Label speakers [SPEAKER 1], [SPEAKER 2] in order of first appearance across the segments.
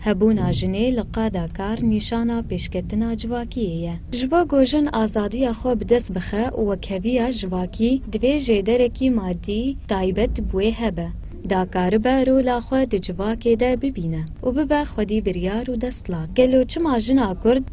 [SPEAKER 1] Hebûna jinê li qada kar nîşana pêşketina civakiyê ye. Ji bo ku jin azadiya xwe bi dest bixe û wekheviya civakî divê jêderekî madî taybet bi wê hebe, da karibe rola xwe di civakê de bibîne û bibe xwedî biryar û destlat. Gelo çima jina Kurd,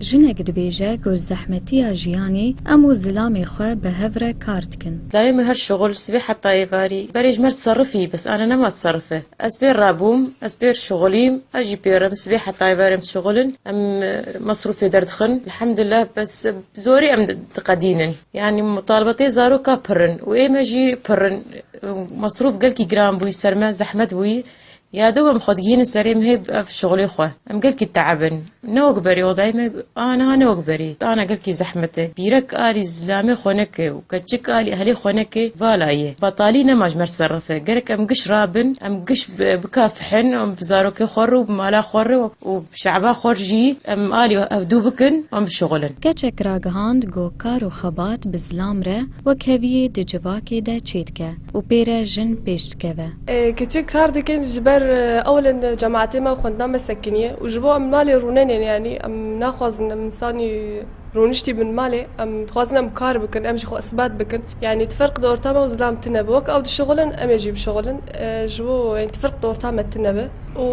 [SPEAKER 1] Jinek dibêje ku zehmetiya jiyanê em û zilamê xwe bi hev re kar dikin. Dayê min her şixul sibê heta êvarî berê ji me tiserifî bes ane nema tiserif e. Ez pêr re bûm, ez pêr şixulîm, ez jî pêr im sibê heta êvarê em dişixulin, em mesrûfê derdixin elhamdulillah bes bi zorî em diqedînin. Yanî mutalibatê zaroka pir in û ê me jî pir in. Mesrûf gelkî giran bûyî ser me, zehmet bûyî. Ya do em xwe digihînin serê em hêb ev şixulê xwe. Em gelkî teeb in. Ne wek berê odayê me a niha ne wek berê. Tana gelkî zehmet e. Bîrek alî zilamê xwe neke û keçik alî ehlê xwe neke vala ye. Betalî nema ji mer serif e. Gerek em giş rabin, em giş bikafihin û em bi zarokê xwe re û bi mala xwe re û bi şe'ba xwe re jî em alî ev dû bikin û em bişixulin. Keçek ragihand ku kar û xebat bi zilam re wek heviyê di civakê de çêdike. û pê re jin pêş dikeve. Keçik kar dikin ji ber ewilin cematê me û xwendina me sekiniye û ji bo em malê rûnenên yanî em naxwazin em insanî rûniştî bin malê em dixwazin em kar bikin em jî xwe isbat bikin yanî tu ferq di orta me û zilam tune bi wek ew dişixulin em ê jî bişixulin ji bo yanî tu ferq di orta me tune bi. Û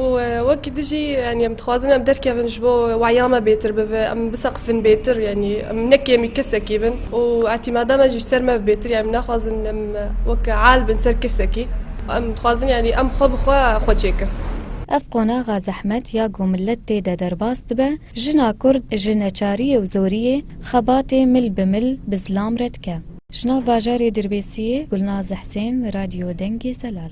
[SPEAKER 1] wekî tu jî yanî em dixwazin em derkevin ji bo weya me bêtir bibe, em biseqifin bêtir yanî em ne kêmî kesekî bin û etîmada me jî ji ser me bi bêtir yanî naxwazin em weke al bin ser kesekî. Em dixwazin yanî em xwe bi xwe xwe çêkin. Ev qonaxa zehmet ya ku milet tê de derbas dibe, jina kurd ji neçariyê û zoriyê, xebatê mil bi mil bi zilam re dike. Ji nav bajarê Dirbêsiyê, Gulnaz Hesên, Radyo Dengê Zelal.